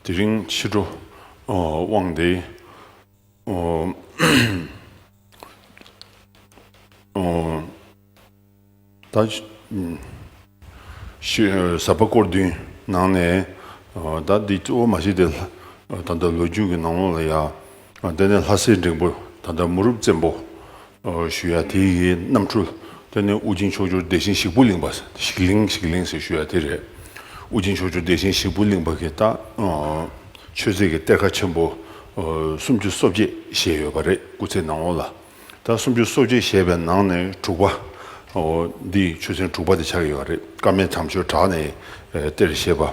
དེ་རིང་ཕྱི་དྲོ་དབང་དེ་ཟབ་པ་སྐོར་བདུན་ནང་ནས་ཟླ་འདི་གཙོ་བོ་མ་གཞི་དེ་ད་ལྟ་ལོ་རྒྱུས་ཀྱི་ནང་ལོགས་ལ་ཡ། དེ་ནས་ལྷ་སྲས་འབྲིང་པོ་ད་ལྟ་མུ་རུབ་བཙན་པོ། ཞུ་ཡ་དེ་ཡི་རྣམ་འཕྲུལ་དེ་ནི་དབུ་ཅན་ཕྱོགས་བཅུར་དེ་བཞིན་ཞིག་པོ་གླིང་པ། ཞིག་གླིང་ཞིག་གླིང་ཟེར་ཞུ་ཡ་དེ་རེད། དབུ་ཅན་ཕྱོགས་བཅུར་དེ་བཞིན་ཞིག་པོ་གླིང་པ་གི་རྟགས། ཆོས་རྩིས་ཀྱི་གཏེར་ཁ་ཆེན་པོ། སུམ་ཅུ་སོ་བརྒྱད་ཞེས་ཡོད་པ་རེད་སྐུ་ཚེའི་ནང་ལོ་ལ། ད་སུམ་ཅུ་སོ་བརྒྱད་ཞེས་པའི་ནང་ནས་དྲུག་པ། འདིས་ཆོས་ཚན་དྲུག་པ་དེ་ཆགས་ཡོད་རེད་ཀ་མད་དམ་ཆོས་གྲགས་ནས་གཏེར་ཞེས་པ།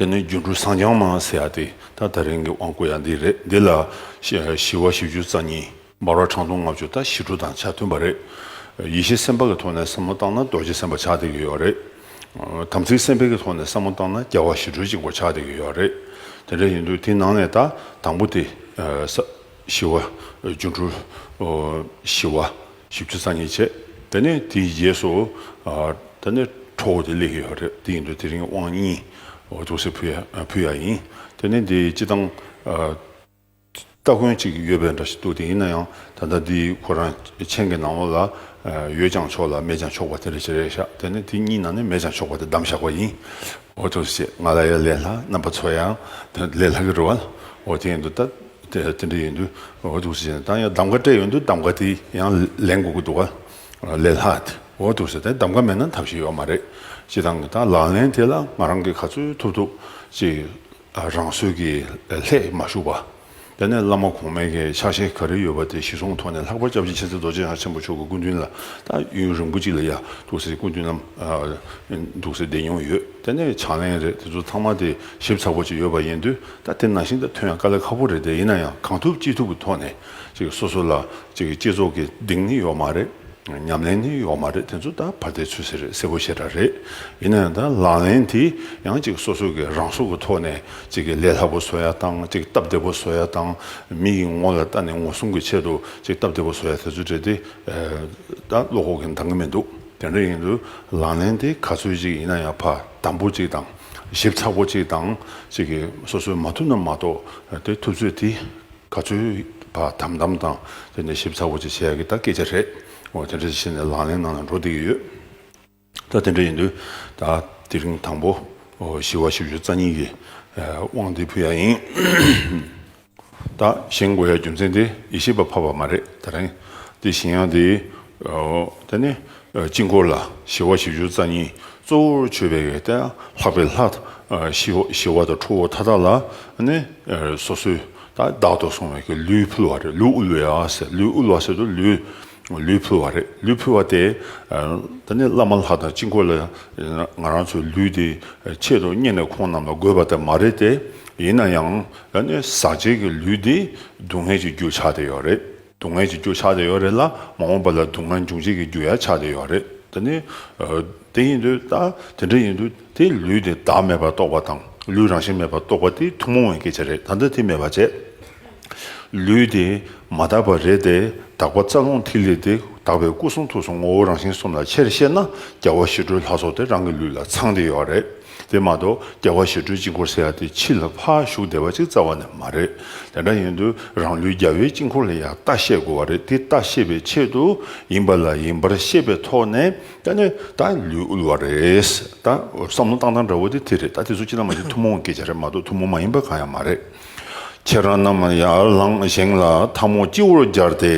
དེ་ནས་སྒྱུ་འཕྲུལ་བསང་སྦྱང་མ་ཟེར་ཡག་དེ་ད་ད་རིང་གི་དབང་བསྐུར་ཡག་འདི་རེད་འདི་ལ་བཞི་བ་བཞི་བཅུ་རྩ་གཉིས། འབར་བ་གྲངས་སྟོང་ལྔ་བཅུ་དང་བཞི་དྲུག་དང་ཆ་མཐུན་པ་རེད། ཡེ་ཤེས་སེམས་དཔའ་གི་ཐོག་ནས་བསམ་བློ་བཏང་ན་རྡོ་རྗེ་སེམས་དཔའ་ཆགས་བསྡད་ཀྱི་ཡོད་རེད། དམ་ཚིག་སེམས་དཔའི་གི་ཐོག་ནས་བསམ་བློ་བཏང་ན་རྒྱལ་བ་ཞི་ཁྲོའི་གཅིག་པོ་ཆགས་བསྡད་ཀྱི་ཡོད་རེད། དེ་འདྲ་ཡིན་དུས་དེ་ནང་ནས་ད་དང་པོ་དེ་བཞི་བ་སྒྱུ་འཕྲུལ་བཞི་བ། བཞི་བཅུ་རྩ་གཉིས་བྱས། དེ་ནས་དེའི་རྗེས་སུ། དེ་ནས་ཁྲོ་བོ་དེ་ལས་ཡོད་རེད་དེ་ཡིན་དུས་དེ་རིང་དབང་གཉིས། ཅུང་ཟད་ཕུལ་ཡ་ཡིན། དེ་ནས་འདི་སྤྱི་དང། སྟ་གོན་ཅིག་ཡོད་པའི་འདྲ་ཞིག་འདུག་དེ་ཡིན་ན་ཡང་ད་ལྟ་འདི་ཁོ་རང་མཆན་གྱི་ནང་ལ། ཡོད་ཀྱང་ཆོག་ལ་མེད་ཀྱང་ཆོག་པ་དེ་རེད་ཅེས་རེ་བཞག་དེ་ནས་དེ་གཉིས་ནང་ནས་མེད་ཀྱང་ཆོག་པ་དེ་བདམས་བཞག་པ་ཡིན། ཅུང་ཟད་བཤད། ང་ལ་ཡང་ལས་སླ་རྣམ་པ་ཚོ་ཡང། ལས་སླ་གི་རེད་བ། དེ་ཡིན་དུས་ད། དེ་འདྲ་ཡིན་དུས་འོ་ཐུག་བྱས་ནས་ད་ཡང་གདམ་ཀ་སྤྲད་ཡོད་འདུག་གདམ་ཀ་དེ་ཡང་ལེན་དགོས་ཀྱི་འདུག་ག་ལས་ལྷག་དེ་འོ་ཐུག་བྱས་ཏེ་གདམ་ཀ་མེད་ན་ཐབས་ཤེས་ཡོད་མ་རེད། སྤྱི་བཏང་གི་ད་ལག་ལེན་དེ་ལ་ང་རང་གིས་ག་ཚོད་ཐུབ་ཐུབ་ཅིག་རང་བཟོས་ཀྱིས་ལྷད་མ་བཞུགས་པ། དེ་ནས་བླ་མ་གོང་མའི་གི་ཕྱག་བཞེས་ག་རེ་ཡོད་པ་དེ་གཞི་བཟུང་ཐོག་ནས་ལྷག་པར་སྐྱབས་རྗེ་མཁྱེན་བརྩེ་རྡོ་རྗེ་འཆང་ཆེན་པོ་མཆོག་གི་སྐུ་མདུན་ལ་ད་ཡུན་རིང་པོ་ཅིག་ལ་ཡ་ཐུག་སའི་སྐུ་མདུན་ནམ་འདུག་སའི་སྡེ་མྱོང་ཡོད་དེ་ནས་ཕྱག་ལེན་རེད་དེ་ཚོ་ཚང་མ་དེ་ཞིབ་ཚགས་པོ་ཅིག་ཡོད་པ་ཡིན་དུས་ད་དེ་ནང་བཞིན་དུ་ཐོན་ཡང་དཀའ་ལས་ཁག་པོ་རེད་དེ་ཡིན་ན་ཡང་གང་ཐུབ་ཅི་ཐུབ་ཀྱི་ཐོག་ནས་གཅིག་སོ་སོ་ལ་གཅིག་སྤྱི་ཚོགས་ཀྱི་གདེང་ནི་ཡོག་མ་རེད་ཉམས་ལེན་ནི་ཡོག་མ་རེད་དེ་ཚོ་ད་བར་དེ་ཚོས་ཟེར་རེད་གསལ་པོ་ཤེས་ར་རེད་ཡིན་ན་ཡང་ད་ལག་ལེན་དེ་ཡང་གཅིག་སོ་སོ་གི་རང་སྲོག་གི་ཐོག་ནས་གཅིག་གི་ལས་སླ་པོ་བཟོ་ཡ་དང་གཅིག་སྟབས་བདེ་པོ་བཟོ་ཡ་དང་མི་ཡི་ངོ་ལ་ལྟ་ནས་ངོ་སྲུང་གི་ཆེད་དུ་གཅིག་སྟབས་བདེ་པོ་བཟོ་ཡ་དེ་ཚོ་རེད་དེ་ད་བློ་ཁོག་གི་འདང་གི་མི་འདུག་དེ་འདྲ་ཡིན་དུས་ལག་ལེན་དེ་ག་ཚོད་ཅིག་ཡིན་ན་ཡང་ཕ་དམ་པོ་གཅིག་དང། ཞིབ་ཚགས་པོ་གཅིག་དང་གཅིག་གིས་སོ་སོས་མ་ཐུབ་ན་མ་གཏོགས་དེ་ཐུབ་ཚོད་དེ་ག་ཚོད་བ་དམ་དམ་དང་དེ་ནས་ཞིབ་ཚགས་པོ་གཅིག་བྱས་ཀྱི་ད་སྐད་ཆ་རེད་འོ་དེ་འདྲ་བྱས་ནས་ལག་ལེན་ནང་ལ་འགྲོ་བསྡད་ཀྱི་ཡོད་ད་དེ་འདྲ་ཡིན་དུས་ད་དེ་རིང་དང་པོ་བཞི་བ་བཞི་བཅུ་རྩ་གཉིས་ཀྱི་དབང་དེ་ཕུལ་ཡ་ཡིན། དང་གཞན་དགོས་ཡ་རྒྱུ་མཚན་དེ་ཡེ་ཤེས་པ་འཕགས་པ་མ་རེད་ད་རེང་དེ་གཞན་ཡང་དེ་ད་ནི་དཀྱིལ་འཁོར་ལ་ཞི་བ་བཞི་བཅུ་རྩ་གཉིས་གཙོ་བོར་མཆོད་པའི་གནས་དང་ལྷག་པའི་ལྷ་ཞི་བ་དང་ཁྲོ་བོ་མཐའ་དག་ལ་ནི་སོ་སོའི་དང་བདག་ཏུ་སོང་བའི་ལུས་ཕུལ་བ་རེད་ལུས་དབུལ་བའི་ལུས་དབུལ་བ་ཟེར་དུ་ལུས། ལུས་ཕུལ་བ་རེད། ལུས་ཕུལ་བ་དེས་ད་ནི་བླ་མ་ལགས་དང་གཅིག་འཁོར་ལ་ང་རང་ཚོའི་ལུས་དེ་ཆེད་དུ་རྙེད་ནས་ཁོང་རྣམས་ལ་དགོས་པ་དེ་མ་རེད་དེ། ཡིན་ན་ཡང་ད་ནི་ཟག་བཅས་ཀྱི་ལུས་འདི་སྡུག་བསྔལ་གྱི་རྒྱུ་ཆགས་ཏེ་ཡོད་རེད། སྡུག་བསྔལ་གྱི་རྒྱུ་ཆགས་ཏེ་ཡོད་རེད་ལ་མ་འོངས་པ་ལ་སྡུག་བསྔལ་འབྱུང་བྱེད་ཀྱི་རྒྱུ་ཡང་ཆགས་ཏེ་ཡོད་རེད། ད་ནི་དེ་ཡིན་དུས་ད་དེ་འདྲ་ཡིན་དུས། དེ་ལུས་དེ་བདག་མེད་པར་རྟོགས་པ་དང་ལུས་རང་བཞིན་མེད་པར་རྟོགས་པ་དེ་ཐུན་མོང་བའི་སྐད་ཆ་རེད་ད་ལྟ་དེ་མེད་པར་བྱས། ལུས་དེ་མ་དག་པ་རེད་དེ་དག་པ་རྩ་རླུང་ཐིག་ལེ་དེ་དག་པའི་སྐུ་གསུང་ཐུགས་གསུང་ངོ་བོ་རང་བཞིན་གསུམ་ལ་ཆེར་བཤད་ན་རྒྱལ་བ་ཞི་ཁྲོའི་ལྷ་ཚོགས་དེ་རང་གི་ལུས་ལ་ཚང་སྟེ་ཡོད་པ་རེད་དེ་མ་གཏོགས་རྒྱལ་བ་ཞི་ཁྲོའི་དཀྱིལ་འཁོར་ཟེར་ཡག་དེ་ཕྱི་ལ་ཕ་བཞུགས་བསྡད་པ་ཅིག་རྩ་བ་ནས་མ་རེད་དེ་འདྲ་ཡིན་དུས་རང་ལུས་རྒྱལ་བའི་དཀྱིལ་འཁོར་ལ་ཡང་ལྟ་ཤེས་དགོས་བ་རེད་དེ་ལྟ་ཤེས་པའི་ཆེད་དུ་ཡིན་པ་ལ་ཡིན་པར་ཤེས་པའི་ཐོག་ནས་ད་ནི་ད་ལུས་དབུལ་བ་རེད། ད་བསམ་བློ་བཏང་སྟངས་འདྲ་བོ་དེ་དེ་རེད། ད་དེ་ཚོ་སྤྱིར་ན་མ་གཞི་ཐུན་མོང་གི་སྐད་ཆ་རེད་མ་གཏོགས་ཐུན་མོང་མ་ཡིན་པ་གང་ཡང་མ་རེད། ཁྱེད་རང་རྣམས་ཡར་ལངས་བཞེངས་ལ་ཐང་མོ་སྤྱི་བོར་སྦྱར་ཏེ།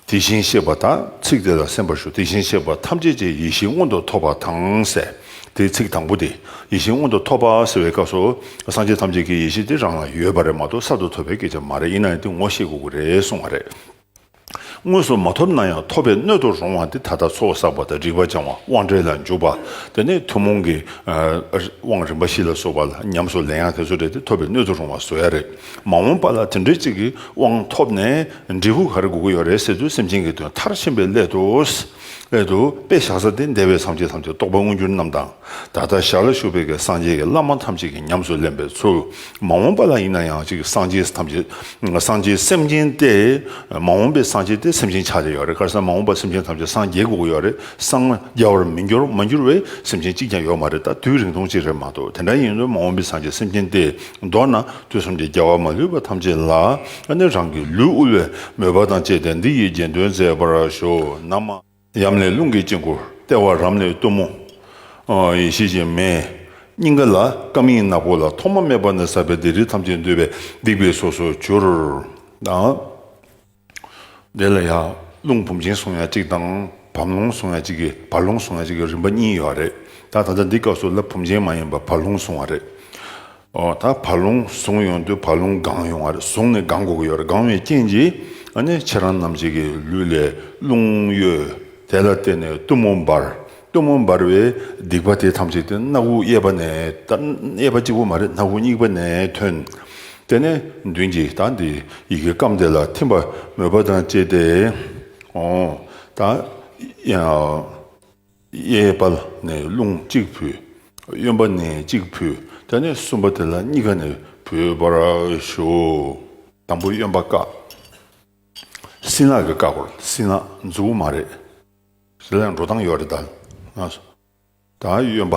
དེ་བཞིན་གཤེགས་པ་དང་ཚིག་དེ་ལ་སེམས་པར་ཞུ་དེ་བཞིན་གཤེགས་པ་ཐམས་ཅད་ཀྱི་ཡེ་ཤེས་མངོན་དུ་ཐོབ་པ་དང་ཟེར་དེའི་ཚིག་དང་པོ་དེ་ཡེ་ཤེས་མངོན་དུ་ཐོབ་པ་ཟེར་བའི་སྐབས་སུ་སངས་རྒྱས་ཐམས་ཅད་ཀྱི་ཡེ་ཤེས་དེ་རང་ལ་ཡོད་པ་རེད་མ་གཏོགས་གསར་དུ་ཐོབ་པའི་སྐད་ཆ་མ་རེད་ཡིན་ན་དེ་ངོ་ཤེས་དགོས་ཀྱི་རེད་གསུངས་བ་རེད། དངོས་སུ་མ་ཐོབ་ན་ཡང་ཐོབ་པའི་སྣོད་དུ་རུང་བ་འདི་ད་ལྟ་ཚོགས་བསགས་པ་དང་རིག་པ་སྦྱང་བ་དབང་བྲལ་ལ་འཇུག་པ་དེ་ནི་ཐུན་མོང་གི་དབང་རིམ་པ་བཞི་ལ་སོགས་པ་ལ་ཉམས་སུ་ལེན་ཡང་དེ་ཚོ་རེད་དེ་ཐོབ་པའི་སྣོད་དུ་རུང་བ་བཟོ་ཡ་རེད་མ་འོངས་པ་ལ་དེ་འདྲའི་ཅིག་གི་དབང་ཐོབ་ནས་འབྲས་བུ་ག་རེ་དགོས་ཀྱི་ཡོད་རེད་ཟེར་དུས་སེམས་ཅན་གྱི་དོན་མཐར་ཕྱིན་པའི་སླད་དུ། སླད་དུ། དཔེ་བཞག་ས་དེ་འདས་པའི་སངས་རྒྱས་ཐམས་ཅད་རྟོགས་པ་མངོན་གྱུར་རྣམས་དང། ད་ལྟ་ཞར་ལ་བཞུགས་པའི་གི་སངས་རྒྱས་ཀྱི་བླ་མ་ཐམས་ཅད་ཀྱི་ཉམས་སུ་ལེན་པའི་ཚུལ། མ་འོངས་པ་ལ་ཡིན་ན་ཡང་གཅིག་སངས་རྒྱས་ཐམས་ཅད་སངས་རྒྱས་སེམས་ཅན་ཏེ། མ་འོངས་པའི་སངས་རྒྱས་ཏེ་སེམས་ཅན་ཆགས་བྲལ་ཡོད་རེད་དཀར་སེམས་མ་འོངས་པ་སེམས་ཅན་ཐམས་ཅད་སངས་རྒྱས་དགོས་ཀྱི་ཡོད་རེད་སངས་རྒྱ་བར་མི་འགྱུར་མ་འགྱུར་བའི་སེམས་ཅན་གཅིག་ཀྱང་ཡོད་མ་རེད་ད་དུས་རིང་ཐུང་གཅིག་རེད་མ་གཏོགས་དེ་འདྲ་ཡིན་དུས་མ་འོངས་པའི་སངས་རྒྱས་སེམས་ཅན་ཏེ་མདོར་ན་དུས་གསུམ་གྱི་རྒྱལ་བ་མ་ལུས་པ་ཐམས་ཅད་ལ་ནི་རང་གི་ལུས་དབུལ་བའི་མོས་པ་དང་བཅས་ཏེ་འདི་ཡི་དགྱེས་སྟོན་མཛད་པར་ཞུ། ན་མ། ཡམས་ལས་རླུང་གི་དཀྱིལ་འཁོར་ལྟེ་བ་རམ་ལས་གཏུམ་མོ། ཡེ་ཤེས་ཀྱི་མེ། སྙིང་ག་ལ་སྐམ་སྙིང་ནག་པོ་ལ་ཐོག་མ་མེད་པ་ནས་བསགས་པའི་སྡིག་རིགས་ཐམས་ཅད་འདུས་པས་སྡིག་པའི་སོ་སོར་གྱུར། དེ་ལ་ཡང་རླུང་བུམ་ཅན་སོང་ཡང་གཅིག་དང་བམ་རླུང་སོང་ཡང་གཅིག་གི་བར་རླུང་སོང་ཡང་གཅིག་གི་རིམ་པ་གཉིས་ཡོད་རེད་ད། ད་ལྟ་འདི་སྐབས་སུ་ལ་བུམ་ཅན་མ་ཡིན་པར་བར་རླུང་སོང་བ་རེད། ད་བ་ལུང་བཟུང་ཡོང་དུས་བ་ལུང་སྒང་ཡོང་བ་རེད་བཟུང་ནས་སྒང་འགོ་གི་ཡོད་རེད་སྒང་བའི་རྐྱེན་གྱིས་ནི་ཁྱེད་རང་རྣམས་ཅིག་གི་ལུས་ལས་རླུང་གཡོས་དེ་ལ་བརྟེན་ནས་གཏུམ་མོ་འབར་གཏུམ་མོ་འབར་བས་སྡིག་པ་དེ་ཐམས་ཅད་དེ་སྣ་དགུ་གཡས་པ་ནས་གཡས་པ་གཅིག་པོ་མ་རེད་སྣ་དགུ་གཉིས་པ་ནས་ཐོན་དེ་ནས་མདུན་གྱི་ད་འདི་ཡི་གེ་སྐམ་དེ་ལ་ཐིམ་པ་མོས་པ་དང་བཅས་ཏེ་ད་གཡས་པ་ནས་རླུང་གཅིག་བུས། གཡོན་པ་ནས་གཅིག་བུས་ཀྱང་ནི་གསུམ་པ་དེ་ལ་གཉིས་ཀ་ནས་བུས་པར་ཞུ། དང་པོ་གཡོན་པ་བཀག། སྲིན་ལག་གིས་བཀག་པར་སྲིན་ལག་མཛུབ་མོ་མ་རེད། སྲིན་ལག་འགྲོ་སྟངས་ཡོད་རེད་ད། དང་གཡོན་པ།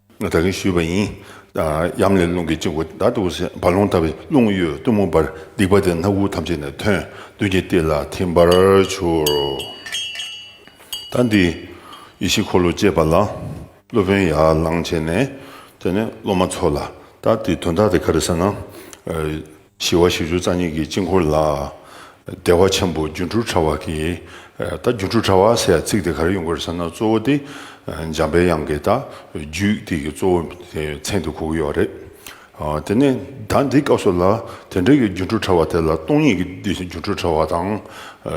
ད་གིན་ཞུས་པ་ཡིན། གཡམ་ལས་རླུང་གིས་བཅིངས་བུ་བདག་ཏུ་བསད། བར་ལོང་ལྟ་བུའི་རླུང་གཡོས་གཏུམ་མོ་འབར། སྡིག་པ་དེ་སྣ་དགུ་ཐམས་ཅད་ནས་ཐོན། བདུད་ཀྱི་ཏིལ་ལ་ཐིམ་པར་གྱུར། ད་འདི་ཡེ་ཤེས་འཁོར་ལོ་བཅས་པ་ལ། སློབ་དཔོན་ཡར་ལངས་བྱས་ནས། དེ་ནས་སློབ་མ་ཚོགས་ལ། ད་འདི་དོན་དག་དེ་ག་རེ་ཟེར་ན། ཞི་བ་བཞི་བཅུ་རྩ་གཉིས་ཀྱི་དཀྱིལ་འཁོར་ལ། བདེ་བ་ཆེན་པོ་སྒྱུ་འཕྲུལ་དྲྭ་བ་གྱིས། ད་སྒྱུ་འཕྲུལ་དྲྭ་བ་ཟེར་ཡ་ཚིག་དེ་གར་ཡོང་གི་ཟེར་ན་གཙོ་བོ་དེ་འཇམ་པའི་དབྱངས་ཀྱི་ད་རྒྱུད་དེ་གི་གཙོ་བོ་མཚན་དེ་གོ་གི་ཡོད་རེད། དེ་ནས་ད་འདི་སྐབས་སུ་ལ་དེ་འབྲེལ་གྱི་སྒྱུ་འཕྲུལ་དྲྭ་བ་དེ་ལ་སྟོང་ཉིད་ཀྱི་སྒྱུ་འཕྲུལ་དྲྭ་བ་དང།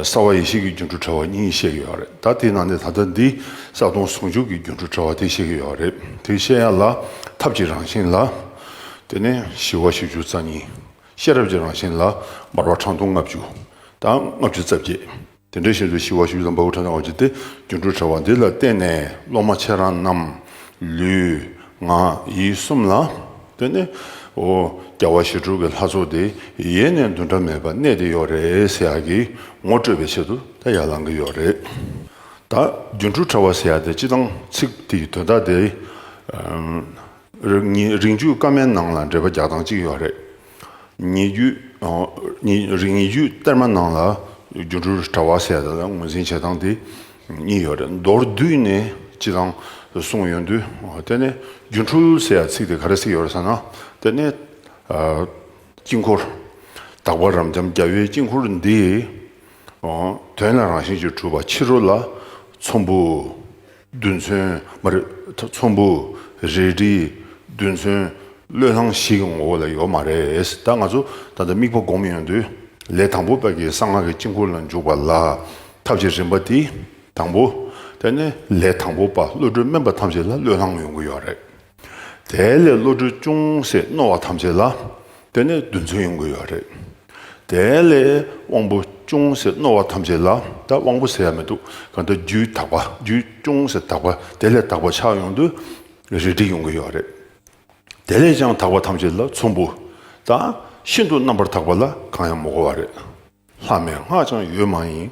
གསང་བ་ཡེ་ཤེས་ཀྱི་སྒྱུ་འཕྲུལ་དྲྭ་བ་གཉིས་བཤད་ཀྱི་ཡོད་རེད་ད་དེའི་ནང་ནས་ད་ལྟ་འདི་ས་སྟོང་ཟུང་འཇུག་གི་སྒྱུ་འཕྲུལ་དྲྭ་བ་དེ་བཤད་ཀྱི་ཡོད་རེད་དེ་བཤད་ཡ་ལ་ཐབས་ཀྱི་རང་བཞིན་ལ། དེ་ནས་ཞི་བ་བཞི་བཅུ་རྩ་གཉིས། ཤེས་རབ་ཀྱི་རང་བཞིན་ལ། མར་བ་ཁྲག་འཐུང་ལྔ་བཅུ། དང་ལྔ་བཅུ་རྩ་བརྒྱད། དེ་འདྲའི་བཞིན་དུ་ཞི་བ་བཞི་བཅུ་དང་འབའ་ཧུ་ཁྲག་འཐུང་ལྔ་བཅུ་སྟེ་སྒྱུ་འཕྲུལ་དྲ་བ་འདི་ལ་བརྟེན་ནས་སློབ་མ་ཁྱེད་རང་རྣམས། ལུས། ངག། ཡིད་གསུམ་ལ། དེ་ནས། ཧོ། བརྒྱ་བ་ཞེ་དྲུག་གི་ལྷ་ཚོགས་དེ་ཡེ་ནས་འདུ་འདྲ་མེད་པར་གནས་ཏེ་ཡོད་རེད་ཟེར་ཡག་གི། ངོ་སྤྲོད་པའི་ཆེད་དུ་ད་ཡར་ལངས་ཀྱི་ཡོད་རེད། ད། སྒྱུ་འཕྲུལ་དྲ་བ་ཟེར་ཡག་དེ་སྤྱི་བཏང་ཚིག་དེའི་དོན་དག་དེ། རིགས་རྒྱུད་སྐར་མའི་ནང་ལ་འགྲེལ་པ་བརྒྱ་དང་གཅིག་ཡོད་རེད། ཉེ་རྒྱུད་གཏེར་མ་ནང་ལ་སྒྱུ་འཕྲུལ་དྲ་བ་ཟེར་དེ་ལ་ངོས་འཛིན་བྱེད་སྟངས་དེ་གཉིས་ཡོད་རེད། མདོར་བསྡུས་ནས་སྤྱི་བཏང་གསུངས་ཡོད་དུས་དེ་ནས་སྒྱུ་འཕྲུལ་ཟེར་ཡ་ཚིག་དེ་ག་རེ་ཟེར་ཡོད་རེད་ཟེར་ན་དེ་ནས་དཀྱིལ་འཁོར། དག་པ་རབ་འབྱམས་རྒྱལ་བའི་དཀྱིལ་འཁོར་འདི། དོན་ལ་རང་བཞིན་གྱིས་གྲུབ་པ་ཕྱི་རོལ་ལ་ཚོམ་བུ། རྡུལ་མཚོན། ཚོམ་བུ། རལ་གྲི། རྡུལ་མཚོན། བློས་བསླངས་ཤིག་གི་ངོ་བོ་ལ་ཡོད་མ་རེད། ད་ང་ཚོ་ད་ལྟ་དམིགས་པ་བསྒོམ་ཡོང་དུས་ལས་དང་པོ་དཔལ་གྱི་གསང་སྔགས་ཀྱི་དཀྱིལ་འཁོར་ལ་འཇུག་པ་ལ་ཐབས་ཀྱི་རིམ་པ་དེ་དང་པོ། དེ་ནས་ལས་དང་པོ་པ་བློ་གྲོས་དམན་པ་ཐམས་ཅད་ལ་བློས་བསླངས་ཡོང་གི་ཡོད་རེད། དེ་ལས་བློ་གྲོས་ཅུང་ཟད་རྣོ་བ་ཐམས་ཅད་ལ་དེ་ནས་རྡུལ་མཚོན་ཡོང་དགོས་ཡོད་རེད། དེ་ལས་དབང་པོ་ཅུང་ཟད་རྣོ་བ་ཐམས་ཅད་ལ་ད་དབང་པོ་ཟེར་ཡ་མི་འདུག་གང་ལྟར་རྒྱུའི་དག་པ་རྒྱུ་ཅུང་ཟད་དག་པ་དེ་ལས་དག་པ་ཆགས་ཡོང་དུས་རས་བྲིས་ཡོང་གི་ཡོད་རེད། དེ་ལས་ཀྱང་དག་པ་ཐམས་ཅད་ལ་ཚོམ་བུ་དང་ཤིན་ཏུ་རྣམ་པར་དག་པ་ལ་གང་ཡང་མི་གོ་བ་རེད། ལྷ་མེད་སྔགས་འཆང་ཡོད་མ་ཡིན།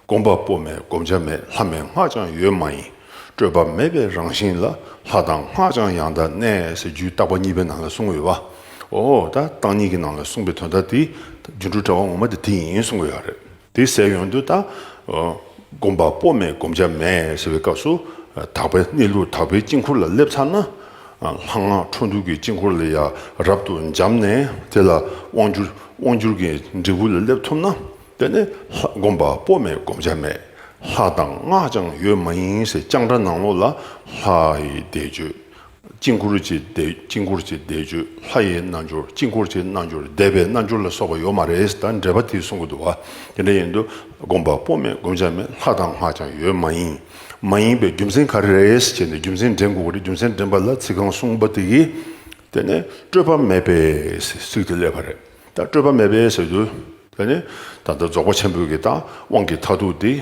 སྒོམ་པ་པོ་མེད་བསྒོམ་བྱ་མེད་ལྷ་མེད་སྔགས་འཆང་ཡོད་མ་ཡིན། སྤྲོས་པ་མེད་པའི་རང་བཞིན་ལ་ལྷ་དང་སྔགས་འཆང་ཡང་དག་གནས་ཟེར་རྒྱུའི་བཏགས་པ་གཉིས་པའི་ནང་ལ་གསུངས་ཡོད་པ། འོ་ད་བཏགས་གཉིས་ཀྱི་ནང་ལ་གསུངས་པའི་དོན་དག་དེ་སྒྱུ་འཕྲུལ་དྲྭ་བ་ངོ་མ་དེ་དེ་ཡིན་གསུངས་ཡོད་རེད། དེ་ཟེར་ཡོང་དུས་ད། སྒོམ་པ་པོ་མེད་བསྒོམ་བྱ་མེད་ཟེར་བའི་སྐབས་སུ། དག་པའི་གནས་ལུགས་དག་པའི་དཀྱིལ་འཁོར་ལ་སླེབས་ཚར་ན། ལྷ་སྔགས་འཕྲོ་འདུ་གྱི་དཀྱིལ་འཁོར་ལས་ཡ་རབ་ཏུ་འབྱམས་ནས་དེ་ལ་དབང་བསྒྱུར། དབང་བསྒྱུར་གྱི་འབྲས་བུ་ལ་སླེབས་ཐུབ་ན་དེ་ནི་བསྒོམ་པ་པོ་མེད་བསྒོམ་བྱ་མེད། ལྷ་དང་སྔགས་ཀྱང་ཡོད་མ་ཡིན་ཟེར་ལྕང་སྦྲ་ནང་ལོགས་ལ་ལྷའི་བཟླས་བརྗོད། དཀྱིལ་འཁོར་གྱི་དཀྱིལ་འཁོར་གྱི་བཟླས་བརྗོད་ལྷ་ཡི་རྣལ་འབྱོར་དཀྱིལ་འཁོར་གྱི་རྣལ་འབྱོར་བཟླས་པའི་རྣལ་འབྱོར་ལ་སོགས་པ་ཡོད་མ་རེད་ད་འགྲེལ་པ་དེ་གསུང་གི་འདུག་བ་དེ་འདྲ་ཡིན་དུས་བསྒོམ་པ་པོ་མེད་བསྒོམ་བྱ་མེད་ལྷ་དང་སྔགས་ཀྱང་ཡོད་མ་ཡིན། མ་ཡིན་པའི་རྒྱུ་མཚན་ག་རེ་རེད་ཅེས་ནས་རྒྱུ་མཚན་འདྲེན་དགོས་རེད་རྒྱུ་མཚན་འདྲེན་པ་ལ་ཚིག་གང་གསུངས་པ་དེ་གིས་དེ་ནས་སྤྲོས་པ་མེད་པས་ཚིག་དེ་སླེབས་པ་རེད་ད་སྤྲོས་པ་མེད་པས་ཟེར་དུས་དེ་ནས་ད་ལྟ་རྫོགས་པ་ཆེན་པོའི་གི་དང་དབང་གི་མཐའ་ཐུག་དེ་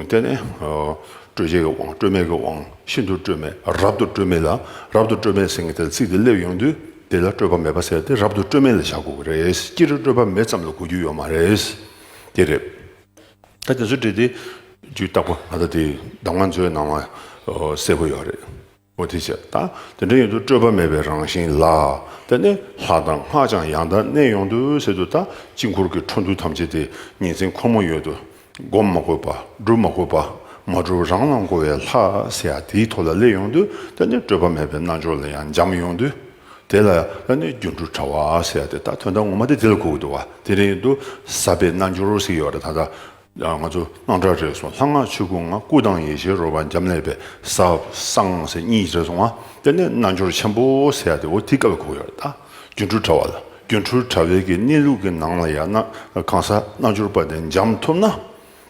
དེ་ནས་སྤྲོས་བྱེད་ཀྱི་དབང་སྤྲོས་མེད་ཀྱི་དབང་ཤིན་ཏུ་སྤྲོས་མེད་རབ་ཏུ་སྤྲོས་མེད་ལ་རབ་ཏུ་སྤྲོས་མེད་ཟེར་གི་དེ་ལ་ཚིག་དེ་སླེབས་ཡོང་དུས་དེ་ལ་སྤྲོས་པ་མེད་པ་ཟེར་ཏེ་རབ་ཏུ་སྤྲོས་མེད་ལ་བཞག་དགོས་གི་རེད་སྤྱིར་སྤྲོས་པ་མེད་ཙམ་ལ་གོ་རྒྱུ་ཡོད་མ་རེད་དེ་རེད། ད་དེ་ཚོ་བྲིས་ཏེ་རྒྱུའི་རྟགས་པ་ད་ལྟ་དེ་གདམ་ང་ཚོའི་ནང་ལ་གསལ་པོ་ཡོད་རེད། མུ་དྷི་བྱས་ད་དེ་འདྲ་ཡོད་དུ་སྤྲོས་པ་མེད་པའི་རང་བཞིན་ལ་ད་ནི་ལྷ་དང་སྔགས་ཀྱང་ཡང་དག་གནས་ཡོང་དུ་ཟེར་དུ་ད་དཀྱིལ་འཁོར་གྱི་འཕྲོ་འདུ་ཐམས་ཅད་དེ་ཉིན་མཚན་ཁོ་མོ་ཡོད་དུ་བསྒོམ་མ་དགོས་པ་སྒྲུབ་མ་དགོས་པ་མ་སྒྲུབ་རང་ལ་འགོ་བའི་ལྷ་ཟེར་ཡ་དེའི་ཐོག་ལ་སླེབས་ཡོང་དུ་ད་ནི་སྤྲོས་པ་མེད་པའི་རྣལ་འབྱོར་ལ་ཡང་འབྱམས་ཡོང་དུ། དེ་ལ་ཨ་ནུའི་སྒྱུ་འཕྲུལ་དྲ་བ་ཟེར་ཏེ་ད་དོན་དག་ངོ་མ་དེ་དེ་ལ་གོ་གི་འདུག་བ་དེ་རིང་དུ་ས་པའི་རྣལ་འབྱོར་ཟེར་གི་ཡོད་རེད་ད་ལྟ་ང་ཚོ་སྣང་གྲགས་རེད་སོང་ལྷ་སྔགས་ཆོས་སྐུ་ང་སྐུ་དང་ཡེ་ཤེས་རོལ་བ་འབྱམས་ཀླས་པའི་ས་གསང་ཟེར་གཉིས་རེད་སོང་ང་དེ་ནས་རྣལ་འབྱོར་ཆེན་པོ་ཟེར་ཏེ་འོ་དེ་ག་ལ་གོ་གི་ཡོད་རེད་ད་སྒྱུ་འཕྲུལ་དྲ་བ་ལ་སྒྱུ་འཕྲུལ་དྲ་བའི་གི་གནས་ལུགས་ཀྱི་ནང་ལ་ཡར་ན་གང་ས་རྣལ་འབྱོར་པ་དེ་འབྱམས་ཐུབ་ན།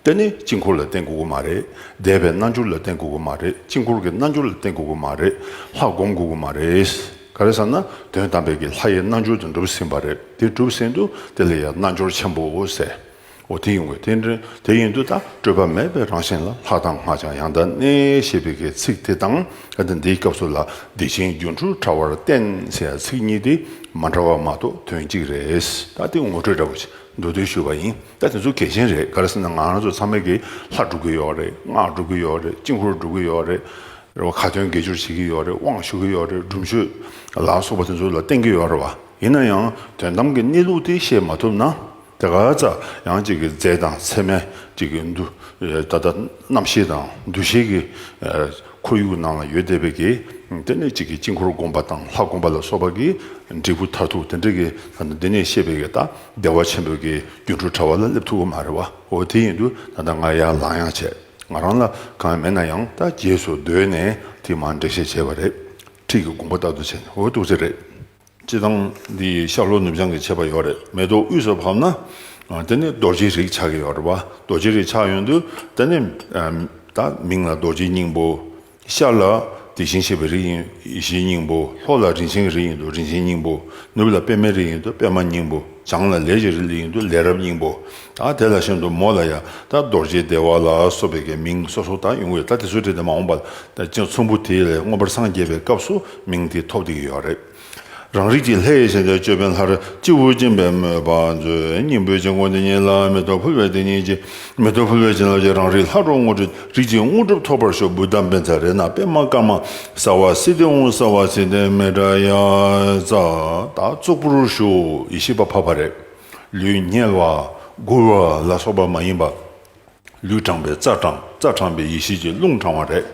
དེ་ནི་དཀྱིལ་འཁོར་ལ་བརྟེན་དགོས་ཀྱི་མ་རེད། བཟླས་པའི་རྣལ་འབྱོར་ལ་བརྟེན་དགོས་ཀྱི་མ་རེད་དཀྱིལ་འཁོར་གྱི་རྣལ་འབྱོར་ལ་བརྟེན་དགོས་ཀྱི་མ་རེད་ལྷ་བསྒོམ་དགོས་ཀྱི་མ་རེད། ག་རེ་ཟེར་ན་དོན་དམ་པའི་གི་ལྷ་ཡི་རྣལ་འབྱོར་དེ་འགྲུབ་ཟིན་པ་རེད་དེ་གྲུབ་ཟིན་དུ་དེ་ལ་ཡང་རྣལ་འབྱོར་ཆེན་པོའོ་ཟེར། འོ་དེ་ཡིན་དགོས་དེ་དེ་ཡིན་དུ་ད་སྤྲོས་པ་མེད་པའི་རང་བཞིན་ལ་ལྷ་དང་སྔགས་ཀྱང་ཡང་དག་གནས་ཞེས་པའི་གི་ཚིག་དེ་དང་ག་དེ་འདིའི་སྐབས་སུ་ལ་བདེ་ཆེན་སྒྱུ་འཕྲུལ་དྲྭ་བར་བརྟེན་ཞེས་ཚིག་གཉིས་དེ་མ་འདྲ་བ་མ་གཏོགས་དོན་གཅིག་རེད། ད་དེ་ངོ་སྤྲོད་འདྲ་པོ་བྱེད། འགྲོ་འདུག་ཞུས་པ་ཡིན་ད་དེ་ཚོ་གལ་ཆེན་རེད་ག་རེ་ཟེར་ན་ང་རང་ཚོ་ཚང་མས་གི་ལྷ་སྒྲུབ་གི་ཡོག་རེད་སྔགས་སྒྲུབ་གི་ཡོག་རེད་དཀྱིལ་འཁོར་སྒྲུབ་གི་ཡོག་རེད་རེད་བ་ཁ་ཏོན་དགེ་སྦྱོར་བྱེད་གི་ཡོག་རེད་དབང་ཞུ་གི་ཡོག་རེད་སྒྲུབ་མཆོད་ལ་སོགས་པ་དེ་ཚོ་ལ་བརྟེན་གི་ཡོག་རེད་བ་ཡིན་ན་ཡང་དོན་དམ་གི་གནས་ལུགས་དེ་ཤེས་མ་ཐུབ་ན་དེ་ག་ཙ་ཡང་ཅིག་གི་རྫས་དང་ཚེར་མས་ཅིག་གི་འདུ་ད་ད་རྣམ་ཤེས་དང་འདུ་ཤེས་གི་ཁོར་ཡུག་ནང་ལ་ཡོད་བསྡད་པའི་དགེ་སྡེ་ནས་གཅིག་གིས་དཀྱིལ་འཁོར་བསྒོམ་པ་དང་ལྷ་བསྒོམ་པ་ལ་སོགས་པ་གྱི་འབྲས་བུ་མཐར་ཐུག་དེ་འདྲ་གི་ད་ལྟ་འདི་ནས་བཤད་པའི་གེ་ད་བདེ་བ་ཆེན་པོའི་གི་སྒྱུ་འཕྲུལ་དྲ་བ་ལ་སླེབས་ཐུབ་པ་མ་རེད་བའོ་དེ་ཡིན་དུས་ད་ལྟ་ང་ཡར་ལངས་ཡང་བྱས་ང་རང་ལ་གང་མེད་ན་ཡང་ད་རྗེས་སུ་བཟློས་ནས་དེ་མ་འགྲིག་ཤས་ཆེ་བ་རེད་ཁྲིད་ཀྱི་དགོངས་པ་རྟག་ཏུ་བྱས་ནས་འོ་སྟུག་ཚེ་རེད། སྤྱི་བཏང་འདི་ཡི་ཤར་ལྷོ་ནུབ་བྱང་གི་ཕྱེད་པ་ཡོད་རེད་མེ་ཏོག་དབུས་སུ་བབས་ན། དེ་ནི་རྡོ་རྗེའི་རིགས་ཆགས་ཀྱི་ཡོད་རེད་བ། རྡོ་རྗེའི་རིགས་ཆགས་ཡོད་དུས་དེ་ནི། ད་མིང་ལ་རྡོ་རྗེའི་སྙིང་པོ། ཤར་ལ་དེ་བཞིན་གཤེགས་པའི་རིགས་ཡིན་ཡེ་ཤེས་སྙིང་པོ། ལྷོ་ལ་རིན་ཆེན་གྱི་རིགས་ཡིན་དུས་རིན་ཆེན་སྙིང་པོ། ནུབ་ལ་པདྨའི་རིགས་ཡིན་དུས་པདྨ་སྙིང་པོ། བྱང་ལ་ལས་ཀྱི་རིགས་ཡིན་དུས་ལས་རབ་སྙིང་པོ། ད་དེ་ལ་ཤར་དུ་མོ་ལ་ཡང་ད་རྡོ་རྗེ་བདེ་བ་ལ་སོགས་པའི་མིང་སོ་སོ་ད་ཡོང་གི་ཡོད་ད་དེ་ཚོའི་གྲས་དེ་མ་འོངས་པ། ཚོམ་བུ་དེ་ལས་མངོན་པར་སངས་རྒྱས་པའི་སྐབས་སུ། མིང་དེ་ཐོབ་བསྡད་ཀྱི་ཡོད་རེད། རང་རིགས་ཀྱི་ལྷའི་ཞལ་ལས་ཅོད་པན་ལྷར་སྤྱི་བོར་བཅིངས་པའི་དམོད་པ་མཛོད་སྙིང་པོའི་དཀྱིལ་འཁོར་འདི་ཉིད་ལ་མེ་ཏོག་ཕུལ་བས་དེ་ཉིད་ཀྱི་མེ་ཏོག་ཕུལ་བའི་བྱིན་རླབས་ཀྱིས་རང་རིགས་ལྷ་གྲོགས་དངོས་གྲུབ་རིགས་ཀྱི་དངོས་གྲུབ་ཐོབ་པར་ཤོག་འབུལ་གཏམ་དཔེ་ཚ་རེ་ན་པད་མ་དཀར་དམར་གསར་བ་སི་ཏི་འོང་གསར་བ་སི་ཏི་མེ་དྲ་ཡ་བཙའ་དག་གཙུག་པུར་བཞུགས་ཡེ་ཤེས་པ་འཕགས་པ་རེད། ལུས་རྙེད་བ། མགུར་བ་ལ་སོགས་པ་མ་ཡིན་པ། ལུས་དྲངས་པས་རྩ་དྲངས་རྩ་དྲངས་པས་ཡེ་ཤེས་ཀྱི་རླུང་དྲངས་བ་རེད།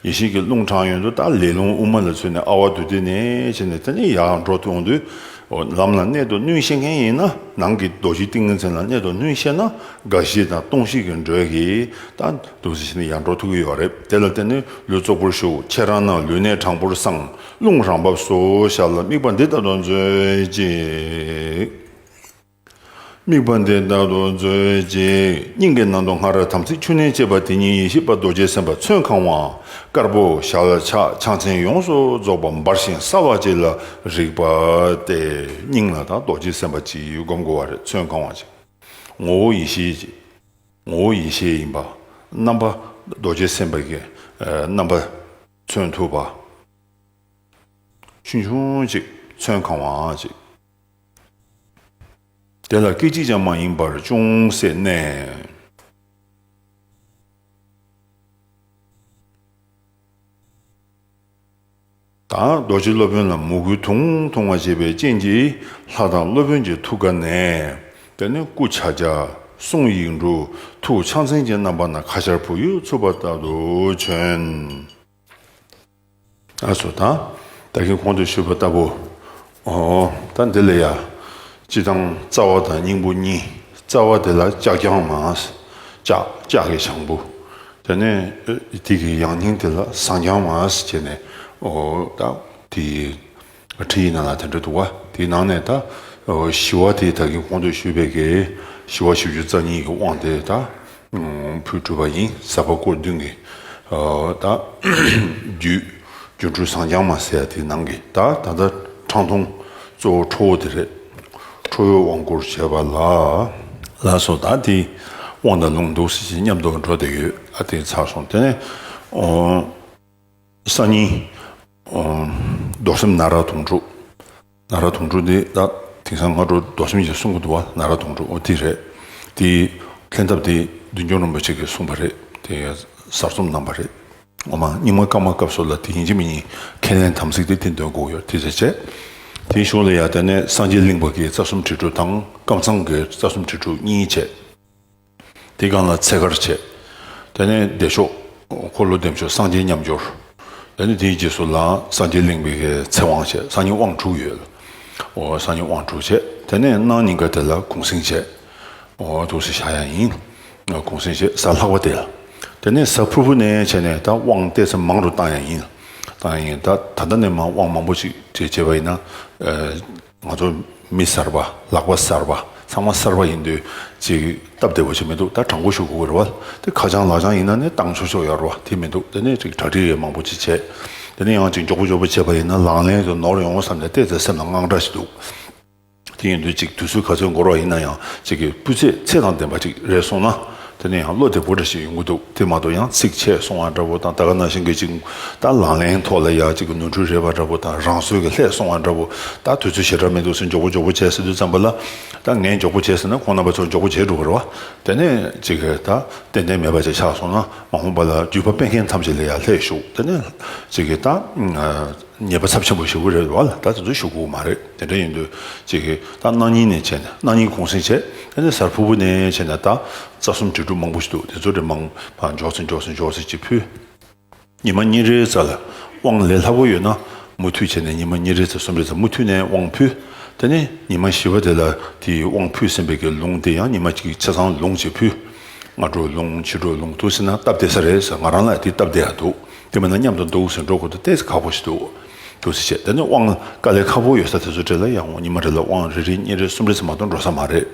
ཡེ་ཤེས་ཀྱི་རླུང་དྲངས་ཡོན་དུ་ལྟ་ལས་རླུང་དབུ་མ་ལ་ཚུད་ནས་ཨ་བ་དུ་ཏི་ནས་ཕྱིན་ནས་དེ་ནས་ཡར་འགྲོ་དུས་འོང་དུས་ལམ་ལ་གནད་དུ་བསྣུན་ཤེས་མཁན་ཡིན་ན་ནང་གི་རྡོ་རྗེ་ཏིང་ངེ་འཛིན་ལ་གནད་དུ་བསྣུན་ཤེས་ན་དགའ་བཞི་དང་སྟོང་བཞི་གི་འགྲོས་ཀྱིས་ལྟ་འདུག་ཚེ་ཕྱིན་ནས་ཡར་འགྲོ་ཐུག་གི་ཡོད་རེད་དེ་ལ་བརྟེན་ནས་ལུས་ཙོག་པོར་བཞུགས་ཁྱེད་རང་རྣམས་ལུས་གནད་དྲང་པོར་བསྲང་རླུང་རང་བབས་སུ་བཞག་ལ་དམིགས་པ་འདི་ལྟ་བུ་མཛོད་ཅིག། དམིགས་པ་འདི་བདག་ཏུ་མཛོད་ཅིག། སྙིང་གའི་ནང་དུ་སྔར་དམ་ཚིག་ཆུ་གནས་བཅས་པ་དེ་ཉིད་ཡེ་ཤེས་པ་རྡོ་རྗེ་སེམས་དཔའ་ཚོན་གང་བ་དཀར་པོ་ཞལ་ཕྱག་ཕྱག་མཚན་ཡོངས་སུ་རྫོགས་པ་འབར་ཞིང་གསལ་བ་གཅིག་ལ་རིག་པ་སྟེ་སྙིང་ལ་དང་རྡོ་རྗེ་སེམས་དཔའ་སྤྱིའི་སྒོམ་དགུ་བ་རེ་ཚོན་གང་བ་ཅིག། ངོ་བོ་ཡེ་ཤེས་ཀྱི་ངོ་བོ་ཡེ་ཤེས་ཡིན་པ། རྣམ་པ་རྡོ་རྗེ་སེམས་དཔའི་རྣམ་པ་ཚོན་ཐུག་པ། ཆུན་ཆུང་ཅིག་ཚོན་གང་བ་ཅིག། དེ་ལ་སྐད་ཅིག་ཀྱང་མ་ཡེངས་པར་ཅུང་ཟད་གནས། དང། རྡོ་རྗེ་སློབ་དཔོན་ལ་མོ་གུའི་དུང་དུང་བ་བྱེད་པའི་རྐྱེན་གྱིས་ལྷ་དང་སློབ་དཔོན་གྱི་ཐུགས་ཀ་ནས། དེ་ནས་སྐུ་བྱ་བྱ། གསུང་ཡིག་འབྲུ། ཐུགས་ཕྱག་མཚན་གྱི་རྣམ་པ་ན་ཁ་ཆར་བུ་ཡུག་འཚུབས་པ་ལྟར་དུ་བྱོན། ཨ་སོ་དང་ད་གིན་གོང་དུ་ཞུས་པ་ལྟ་བུ། འོ། ད་འདི་ལ་ཡ། སྤྱི་དང་རྩ་བ་དང་སྙིང་པོ་གཉིས། རྩ་བ་དེ་ལ་ལྕགས་རྐྱང་མ། ལྕགས་ཀྱི་ཞང་བུ། དེ་ནས་དེ་གི་ཡང་སྙིང་དེ་ལ་ཟངས་རྐྱང་མ། ཅེས་ནས་འོ། ད་དེ། ཁྲི་ཡི་ནང་ལ་དེ་འདྲ་འདུག་ཨ། དེའི་ནང་ནས་ད། ཞི་བ་དེ་ད་གིན་ཁོང་ཚོས་ཞུས་པའི་གེ། ཞི་བ་ཞིབ་བཅུ་རྩ་གཉིས་ཀྱི་དབང་དེ་ད། ཕུལ་གྲུབ་པ་ཡིན་ས་པ་སྐོར་བདུན་གྱི། ད། རྒྱུད། སྒྱུ་འཕྲུལ་ཟངས་ལྗང་མ་ཟེར་ཡ་དེའི་ནང་གི་ད་ད་ལྟ། ཁྲང་འཐུང། གཙོ་བོ་ཁྲོ་བོ་དེ་རེད། ཁྲོ་བོའི་དབང་བསྐུར་བྱས་པ་ལ། ལ་སོགས་ད་དེའི། དབང་དང་ལུང་འདུག་སེ་བྱས་ཉམས་རྟོགས་འགྲོ་བསྡད་ཡོད་ཨ་དེ་ཚར་སོང་དེ་ནས། སང་ཉིན། རྡོར་སེམས་ན་ར་དུང་དྲུག། ན་ར་དུང་དྲུག་འདི་ད་དེང་སང་སྔ་དྲོ་རྡོར་སེམས་ཀྱིས་གསུངས་གི་འདུག་བ་ན་ར་དུང་དྲུག་འདི་རེད། དེ་ལྷན་ཐབས་དེ་བདུན་སྐྱོང་རིན་པོ་ཆེ་གིས་གསུངས་པ་རེད་དེ་གསར་རྩོམ་གནང་བ་རེད། ངོ་མ་རྙིང་མ་སྐར་མ་སྐབས་སུ་ལ་དེ་ཡིན་གྱི་མི་ཡིན་ཁས་ལེན་དམ་ཚིག་དེ་དེ་འདོན་དགོས་ཡོད་དེ་བྱས་རྗེས། དེའི་གཞུང་ལ་ཡ་ད་ནས་སངས་རྒྱས་གླིང་པ་གིས་རྩ་གསུམ་དྲིལ་སྒྲོག་དང་བསྐང་གསང་གི་རྩ་གསུམ་དྲིལ་སྒྲོག་གཉིས་བྱས། དེ་སྒང་ལ་ཚད་བཀར་བྱས། དེ་ནས་བདེ་མཆོག། འཁོར་ལོ་བདེ་མཆོག་སངས་རྒྱས་མཉམ་སྦྱོར། དེ་ནས་དེའི་རྗེས་སུ་ལའང་སངས་རྒྱས་གླིང་པའི་གའི་ཚེ་དབང་བྱས་སངས་རྒྱས་དབང་དྲུག་ཡོད། སངས་རྒྱས་དབང་དྲུག་བྱས་དེ་ནས་སྣང་སྙིང་ག་དེ་ལ་གུང་སེང་བྱས། ཐུགས་སྲས་ཤཱ་ཡ་ཡིན། གུང་སེང་བྱས་ས་ལྷག་པ་དེ་ལ། དེ་ནས་ས་ཕུར་བུ་ནས་བྱས་ནས་ད་དབང་བཏད་ཚེ་མང་དུ་བཏང་ཡང་ཡིན། བཏང་ཡང་ཡིན། ད་ད་ལྟ་ནས་མ་དབང་མང་པོ་ཅིག་བྱས་བྱས་པ་ཡིན་ན། ང་ཚོ་མི་གསར་པ་ལག་པ་གསར་པ་ཚང་མ་གསར་པ་ཡིན་དུས་གཅིག་སྟབས་བདེ་བོ་ཞིག་མི་འདུག་ད་དྲང་པོ་ཞུ་དགོས་རེད་བ་དེ་ཁ་བྱང་ལག་བྱང་ཡིན་ན་ནི་བཏང་ཆོག་ཆོག་ཡ་རེད་བ་དེ་མི་འདུག་དེ་ནས་གཅིག་གྲ་སྒྲིག་མང་པོ་ཅིག་བྱས་དེ་ནས་ཡང་གཅིག་མགྱོགས་པོ་མགྱོགས་པོ་བྱས་པ་ཡིན་ན་ལང་ལེན་དུ་ནོར་ཡོང་ངོ་བསམ་ནས་བལྟས་ཚེ་སེམས་ལ་དངངས་སྐྲག་ཞིག་འདུག་དེ་ཡིན་དུས་གཅིག་དུས་ཚོད་ག་ཚོད་འགོར་བ་ཡིན་ན་ཡང་གཅིག་གི་སྤུས་ཚད་ཚད་དང་ལྡན་པ་ཅིག་རེག་སོང་ན་དེ་ནས་ཡང་བློ་དེ་བོ་འདྲ་ཞིག་ཡོང་གི་འདུག་དེ་མ་གཏོགས་ཡང་ཚིག་ཆད་སོང་བ་འདྲ་བོ་དང་ད་ག་ནང་བཞིན་གྱི་ཅིག་ད་ལང་ལེན་ཐོག་ལ་ཡག་ཅིག་གི་ནོར་འཁྲུལ་རེད་པ་འདྲ་བོ་དང་རང་སྲོལ་གྱི་ལྷད་སོང་བ་འདྲ་བོ་ད་དུས་ཚོད་ཞེ་དྲག་མི་འདུག་ཟེར་མགྱོགས་པོ་མགྱོགས་པོ་བྱས་ཟེར་དུས་བརྩམས་པ་ལ་ད་ངས་མགྱོགས་པོ་བྱས་ཟེར་ན་ཁོང་རྣམ་པ་ཚོ་མགྱོགས་པོ་བྱས་འགྲོ་གི་རེད་བ་དེ་ནས་ཅིག་ད་ཏན་ཏན་མེད་པ་ཅིག་ཆགས་སོང་ན་མ་འོངས་པ་ལ་བརྒྱུད་པ་སྤེལ་མཁན་ཐམས་ཅད་ལ་ཡང་ལྷད་ཞུགས་དེ་ནས་ཅིག་ད། ཉེས་པ་ཚབས་ཆེན་པོ་ཞུ་གི་རེད་དུ་བ་ལ་ད་དེ་ཚོ་ཞུ་གོ་མ་རེད་དེ་འདྲ་ཡིན་དུས་ཅིག་གི་ད་གནའ་ཉིན་ནས་བྱས་ནས་གནའ་ཉིན་གུང་སེང་བྱས་དེ་ནས་གཟར་ཕུར་བུ་ནས་བྱས་ནས་ད་རྩ་གསུམ་དྲིལ་སྒྲུབ་མང་པོ་ཞིག་འདུག་དེ་ཚོ་དྲིལ་མང་པ་འཇོག་ཚེ་འཇོག་ཚེ་འཇོག་ཚེ་ཅིག་ཕུལ། ཉི་མ་གཉིས་རེའི་རྩ་ལ་དབང་ལས་སླ་པོ་ཡོད་ན་མུ་མཐུད་བྱས་ནས་ཉི་མ་གཉིས་རེའི་རྩ་གསུམ་རེའི་རྩ་མུ་མཐུད་ནས་དབང་ཕུལ་དེ་ནས་ཉི་མ་བཞི་བ་དེ་ལ་དེའི་དབང་ཕུལ་ཟིན་པའི་གི་ལུང་དེ་ཡང་ཉི་མ་གཅིག་ཆ་ཚང་ལུང་ཅིག་ཕུལ། སྔ་དྲོ་ལུང་ཕྱི་དྲོ་ལུང་ཐུག་ཟིན་ན་སྟབས་བདེ་ས་རེད་ཟེར་ང་རང་ལ་དེ་སྟབས་བདེ་ཡག་འདུག། དེ་མིན་ན་མཉམ་དུ་འདུག་ཟེར་འགྲོ་དགོས་འདུག་ལྟས་ཁག་པོ་ཞིག་འདུག་འདུག་ཟེར་བྱས་དེ་ནི་དབང་དཀའ་ལས་ཁག་པོ་ཡོད་ས་དེ་ཚོ་བྲེལ་ན་ཡང་ཉིན་མ་བྲེལ་ལ་དབང་རེ་རེ་གཉིས་རེ་གསུམ་རེ་ཚང་མ་དུ་འགྲོ་ས་མ་རེད་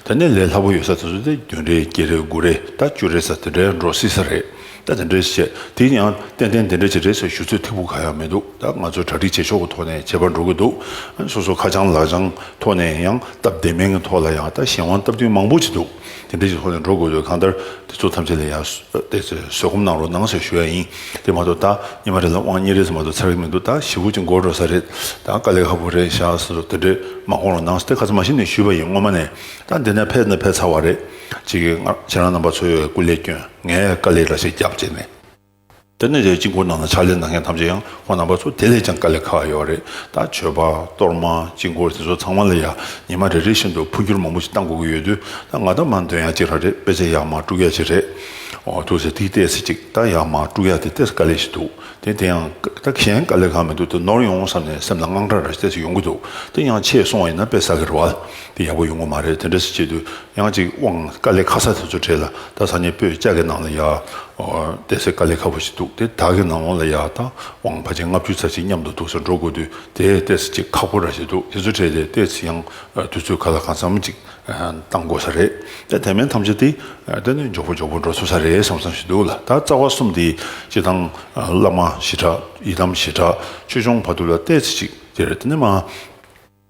དེ་ནས་ལས་སླ་པོ་ཡོད་ས་དེ་ཚོ་དེ་བདུན་རེ་བརྒྱད་རེ་དགུ་རེ་ད་བཅུ་རེ་ས་དེ་འདྲའི་འགྲོ་སྲིད་ས་རེད་ད་དེ་འདྲའི་བྱས་དེ་ཡིན་ཡང་ཏན་ཏན་དེ་འདྲའི་བྱས་འབྲས་ཟེར་ཞུ་ཚོད་ཐིག་པོ་གང་ཡང་མི་འདུག་ད་ང་ཚོས་གྲ་སྒྲིག་བྱེད་ཕྱོགས་ཀྱི་ཐོག་ནས་བྱེད་པར་འགྲོ་དགོས་འདུག་སོ་སོ་ཁ་བྱང་ལག་བྱང་ཐོག་ནས་ཡང་སྟབས་བདེ་མིན་གྱི་ཐོག་ལ་ཡང་ད་གཞན་དབང་སྟབས་བསྟུན་མང་པོ་བྱེད་འདུག། དེ་འདི་ཞིག་ལྷོད་ནས་འགྲོ་དགོས་འདོད་གང་ལྟར་དེ་ཚོ་ཐམས་ཅད་ལ་ཡང་བལྟས་ཚེ་བཟོད་སྒོམ་གནང་རོགས་གནང་ཞེས་ཞུ་ཡ་ཡིན། དེ་མ་གཏོགས་ད་ཉི་མ་རེ་ལ་དབང་གཉེར་རེས་མ་གཏོགས་ཚར་གི་མི་འདུག་ད་ཞི་བུ་གཅིག་མགོ་འགྲོ་ས་རེད་ད་དཀའ་ལས་ཁ་པོ་རེད་ཤག་ས་སོགས་དེ་འདྲས་མ་དགོངས་རོགས་གནང་ཞེས་ཁ་ཚ་མ་ཞིག་ནས་ཞུས་པ་ཡིན་སྔོན་མ་ནས་ད་འདི་ནས་ཕེབས་ན་ཕེབས་ཚར་བ་རེད། ཅེས་ཁྱེད་རང་རྣམ་པ་ཚོའི་སྐུ་ལས་སྐྱོན་ངས་དཀའ་ལས་འདྲ་ཞིག་རྒྱབ་བྱས་ནས། དེ་ནི་རས་ཀྱི་མགོ་ནང་ན་ཕྱག་ལེན་གནང་མཁན་ཐམས་ཅད་ཡང་ཁོང་རྣམ་པ་ཚོ་དེ་ལས་ཀྱང་དཀའ་ལས་ཁག་ཡོད་རེད་ད། མཆོད་པ། གཏོར་མ། དཀྱིལ་འཁོར་དེ་ཚོ་ཚང་མ་ལ་ཡང་ཉི་མ་རེ་རེ་བཞིན་དུ་འཕོ་འགྱུར་མང་པོ་ཞིག་བཏང་དགོས་ཀྱི་ཡོད་དུས་ད་ང་ད་མར་འདོན་ཡག་གཅིག་རག་རེད་དཔེ་ཆ་ཡག་མ་དཀྲུག་ཡག་གཅིག་རེད། འོ་ཐུགས་ཟེར་ཐིག་བལྟས་ཟེར་གཅིག་ད་ཡག་མ་དཀྲུག་ཡག་དེ་བལྟས་ས་དཀའ་ལས་ཞིག་འདུག་དེ་དེ་ཡང་ད་གཞན་དཀའ་ལས་ཁག་མི་འདུག་དེ་ནོར་ཡོང་ངོ་བསམ་ནས་སེམས་ལ་དངངས་སྐྲག་ར་བལྟས་ས་ཡོང་གི་འདུག་དེ་ཡང་ཆེས་སོང་བ་ཡིན་ན་དཔེ་ཟ་གི་རེད་བ། དེ་ཡག་པོ་ཡོང་གི་མ་རེད་དེ་འདྲ་ཟེར་གཅིག་དུས་ཡང་ཅིག་དབང་དཀའ་ལས་ཁ་ས་དེ་ཚོ་དྲས་ལ་ད་ས་ཉེ་པོས་ལྕགས་ཀྱི་ནང་ལ་ཡ་བསྡད་ཟེར་དཀའ་ལས་ཁ་པོ་ཞིག་འདུག་དེ་དག་གི་ནང་ལོང་ལ་ཡ་ད་དབང་ཕ་ཆེན་ལྔ་བཅུ་ཚར་གཅིག་མཉམ་དུ་འདུག་ས་འགྲོ་དགོས་དུས་དེས་ལྟས་ས་ཅིག་ཁག་པོ་ར་ཞིག་འདུག་དེ་ཚོ་དྲས་ཏེ་ལྟས་ས་ཡང་དུས་ཚོད་ག་ལ་གང་ཙམ་ཅིག་བཏང་དགོས་ས་རེད་དེ་དེ་མིན་ཐམས་ཅད་དེ་ལྟས་ནས་མགྱོགས་པོ་མགྱོགས་པོ་འགྲོ་ཚུལ་ས་རེད་བསམ་བསམ་ཞིག་འདུག་ལ་ད་རྩ་བ་གསུམ་དེ་སྤྱི་བཏང་བླ་མ་ཞི་དྲག་ཡི་དམ་ཞི་དྲག་ཆོས་སྐྱོང་བར་དུ་ལ་ལྟས་ས་ཅིག་དེ་རེད་དེ་ནས་མ།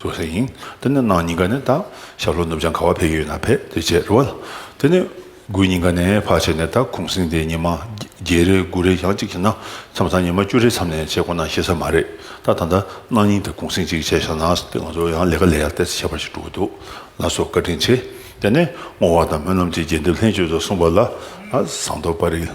བཟོ་ས་ཡིན། དེ་ནས་ནང་ཉིན་ག་ནས་ད་ཞབས་ལོ་ནུབ་བྱང་ཁ་བ་བས་ཡོད་ན་བས་དེ་བྱས་རོལ། དེ་ནས་དགུན་ཉིན་ག་ནས་ཕག་བྱས་ནས་ད་གུང་སེང་དེ་ཉི་མ་བརྒྱད་རེ་དགུ་རེ་གྱང་གཅིག་བྱས་ན་མཚམས་སང་ཉི་མ་བཅུ་རེ་མཚམས་ནས་བྱེད་དགོ་ན་ཤེས་ས་མ་རེད་ད་ད་ལྟ་གནང་ཉིན་དེ་གུང་སེང་གཅིག་བྱས་ཤག་ན་དེ་ང་ཚོ་ཡང་ལས་ཀ་ལས་ཡག་ཏེ་ཁྱད་པར་ཞིག་འགྲོ་གི་འདུག་ལ་སོགས་བཀའ་དྲིན་ཆེ། དེ་ནས་བསྔོ་བ་དང་སྨོན་ལམ་གྱི་རྒྱས་འདེབས་ལྷན་བཅོས་སོགས་གསུངས་པ་ལ་བཟང་དོ་པ་རིགས།